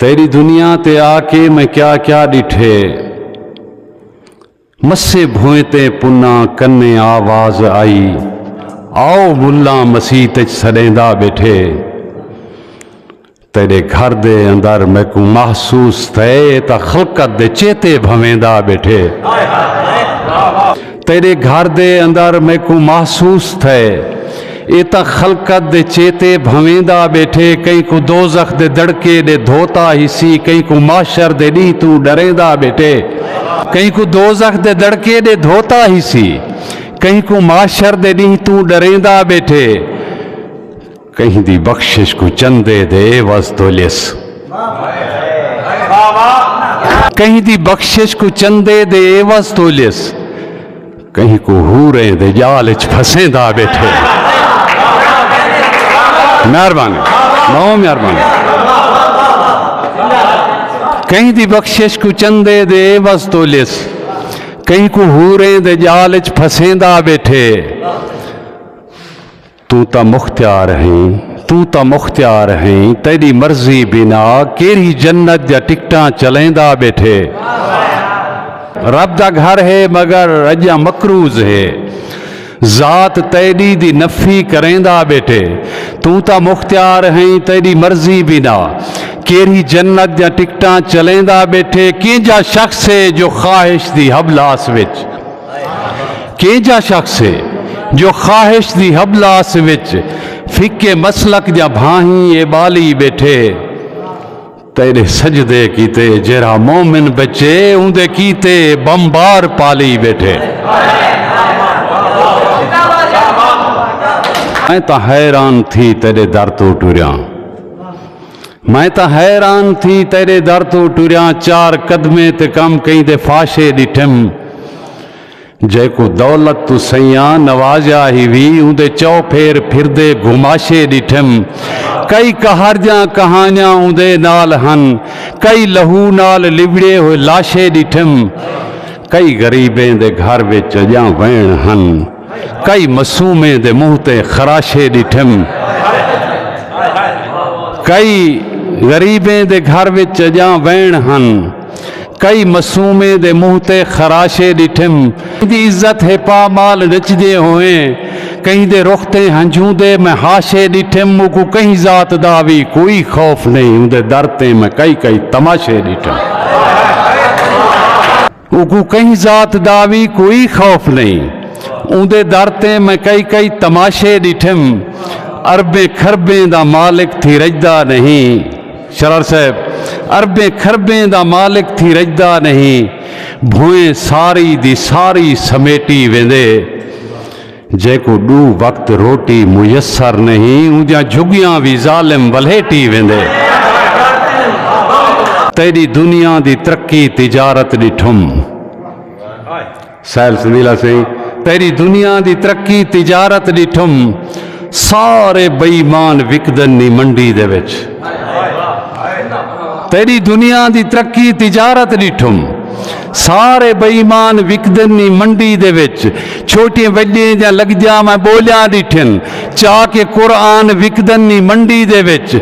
تیݙی دنیا تے آ کے میں کیا کیا ݙٹھے۔ مسے بھوئیں تے پناں کنے آ واز آئی آؤ ملاں مسیت اچ سݙیندا ٻیٹھے۔ تیݙے گھر دے اندر میکوں محسوس تھئے تاں خلقت دے چیتے بھویندا ٻیٹھے۔ تیݙے گھر دے اندر میکوں محسوس تھئے۔ ایہ تاں خلقت دے چیتے بھنویندا ٻیٹھے، کہیں کوں دوزخ دے دڑکے ݙے دھوتا ہیسی، کہیں کوں محشر دے ݙینہہ توں ݙریندا ٻیٹھے، کہیں کوں دوزخ دے دڑکے ݙے دھوتا ہیسی، کہیں کوں محشر دے ݙینہہ توں ݙریندا ٻیٹھے، کہیں دی بخشش کوں چندے دے عوض توں لیس۔ کہیں دی بخشش کوں چندے دے عوض توں لیس۔ کہیں کوں حوریں دے جال اچ پھسیندا بیٹھے۔ مہربانی بہوں مہربانی کہیں دی بخشش کو چندے دے عوض تو لس کہیں کو ہوریں دے جال اچ پھسیندا بیٹھے توں تاں مختیار ہیں توں تاں مختیار ہیں تیڈی مرضی بنا کیرھی جنت دیاں ٹکٹاں چلیندا بیٹھے رب دا گھر ہے مگر اجاں مکروز ہے ذات تیڈی دی نفی کریندا بیٹھے توں تاں مختیار ہیں تیڈی مرضی بنا کیرھی جنت دیاں ٹکٹاں چلیندا بیٹھے کینجا شخص ہے جو خواہش دی حبلاس وچ کینجھا شخص ہے جو خواہش دی حبلاس وچ فقے مسلک دیاں بھاہیں اے بالی بیٹھے تیرے سجدے کیتے جیرا مومن بچے اوندے کیتے بمبار پالی بیٹھے میں تا حیران تھی تیرے در تو ٹوریاں میں تاں حیران تھی تیڈے در توں ٹریاں چار قدمیں تے کم کہیں دے فاشے ڈٹھم جیکوں دولت توں سیاں نوازیا ہی وی اوندے چو پھیر پھردے گھماشے ڈٹھم کئی کہاڑجاں کہانیاں اوندے نال ہن کئی لہو نال لبڑے ہوئے لاشے ڈٹھم کئی غریبیں دے گھر وچ اجاں وین ہن۔ کئی معصومیں دے منہ تے خراشے ݙٹھم۔ کئی غریبیں دے گھر وچ اڄاں وین ہن۔ کئی معصومیں دے منہ تے خراشے ݙٹھم۔ کہیں دی عزت ہے پامال نچدے ہوئیں۔ کہیں دے رخ تے ہنجھوں دے میں ہاشے ݙٹھم۔ اوکوں کہیں ذات دا وی کوئی خوف نئیں۔ اوندے در تے میں کئی کئی تماشے ݙٹھم۔ اوکوں کہیں ذات دا وی کوئی خوف نئیں۔ اوندے در تے میں کئی کئی تماشے ݙٹھم۔ اربیں کھربیں دا مالک تھی رڄدا نئیں۔ شرار صاحب اربیں کھربیں دا مالک تھی رڄدا نئیں۔ بھوئیں ساری دی ساری سمیٹی ویندے۔ جیکوں ݙو وقت روٹی میسر نہیں اوندیاں جھڳیاں وی ظالم ولھیٹی ویندے تیݙی دنیا دی ترقی تجارت ݙٹھم سیل سندیلا سئیں تیݙی دنیا دی ترقی تجارت ݙٹھم سارے بے ایمان وکدن نی منڈی دے وچ تیری دنیا دی ترقی تجارت ڈٹھم سارے بے ایمان وکدن نی منڈی دے وچ چھوٹیں وڈیں دیاں لگجاں میں بولیاں ڈٹھن چا کہ قرآن وکدن نی منڈی دے وچ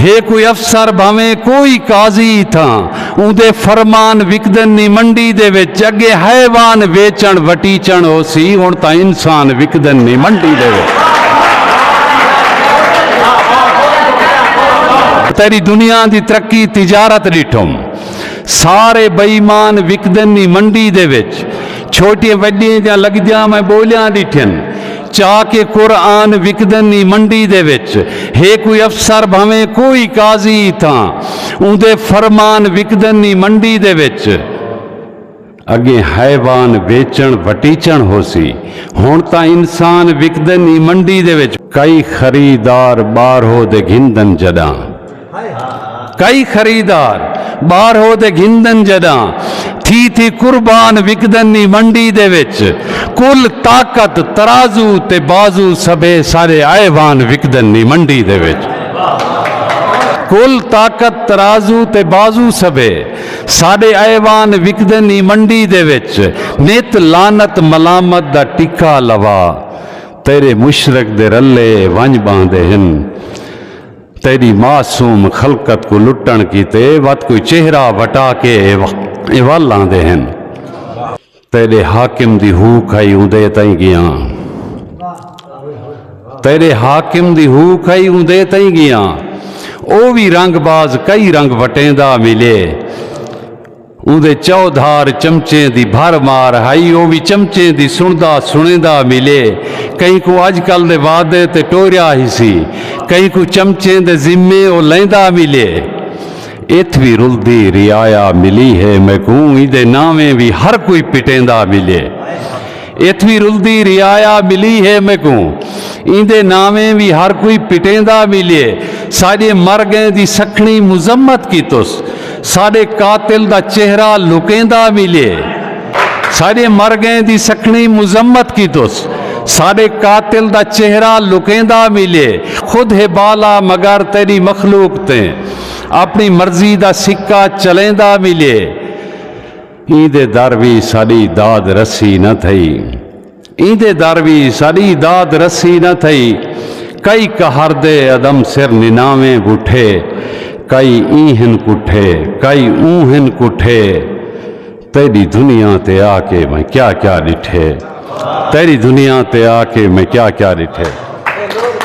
ہے کوئی افسر بھاویں کوئی قاضی تھاں اوندے فرمان وکدن نی منڈی دے وچ اگے حیوان ویچن وٹیچن ہوسی ہن تاں انسان وکدن نی منڈی دے وچ تیری دنیا دی ترقی تجارت ڈٹھم سارے بے ایمان وکدن نی منڈی دے وچ چھوٹیاں وڈیاں جاں لگدیاں میں بولیاں ڈٹھن چا کہ قرآن وکدن نی منڈی دے وچ ہے کوئی افسر بھویں کوئی قاضی تھاں اوندے فرمان وکدن نی منڈی دے وچ اگے حیوان ویچݨ وٹیچݨ ہوسی ہݨ تاں انسان وکدن ای منڈی دے وچ۔ کئی خریدار ٻاہرو دے گھندن جݙاں کئی خریدار ٻاہرو دے گھندن جݙاں تھی تھی قربان وکدن ای منڈی دے وچ کل طاقت ترازو تے بازو سبھے سارے حیوان وکدن ای منڈی دے وچ کل طاقت ترازو تے بازو سبھے ساݙے ایوان وکدن ای منڈی دے وچ۔ نت لعنت ملامت دا ٹکا لوا۔ تیݙے مشرک دے رلے ونڄ ٻہندے ہن۔ تیݙی معصوم خلقت کوں لٹݨ کیتے وت کوئی چہرہ وٹا کے اے ول آندے ہن۔ تیڈے حاکم دی ہو کھائی اوندے تئیں گیاں تیڈے حاکم دی ہو کھائی اوندے تئیں گیاں او وی رنگ باز کئی رنگ وٹیندا ملے اوندے چودھار چمچیں دی بھر مار ہائی او وی چمچیں دی سندا سنیندا ملے کہیں کو اج کل دے وعدے تے ٹوریا ہسی کہیں کو چمچیں دے ذمے او لیندا ملے اتھ وی رلدی رعایا ملی ہے میکوں ایندے ناویں وی ہر کوئی پٹیندا ملے اتھ وی رلدی رعایا ملی ہے میکوں ایندے ناویں وی ہر کوئی پٹیندا ملے ساڈے مر گئیں دی سکھنی مذمت کیتس ساڈے قاتل دا چہرہ لکیندا ملے ساڈے مر گئیں دی سکھنی مذمت کیتس ساڈے قاتل دا چہرہ لکیندا ملے خود ہے بالا مگر تیری مخلوق تیں اپݨی مرضی دا سکہ چلیندا ملے ایں دے در وی ساݙی داد رسی نہ تھئی ایں دے در وی ساݙی داد رسی نہ تھئی کئی قہر دے عدم سر نناویں بٹھے کئی ایں ہن کٹھے کئی اوں ہن کٹھے تیری دنیا تے آ کے میں کیا کیا ڈٹھے تیری دنیا تے آ کے میں کیا کیا ڈٹھے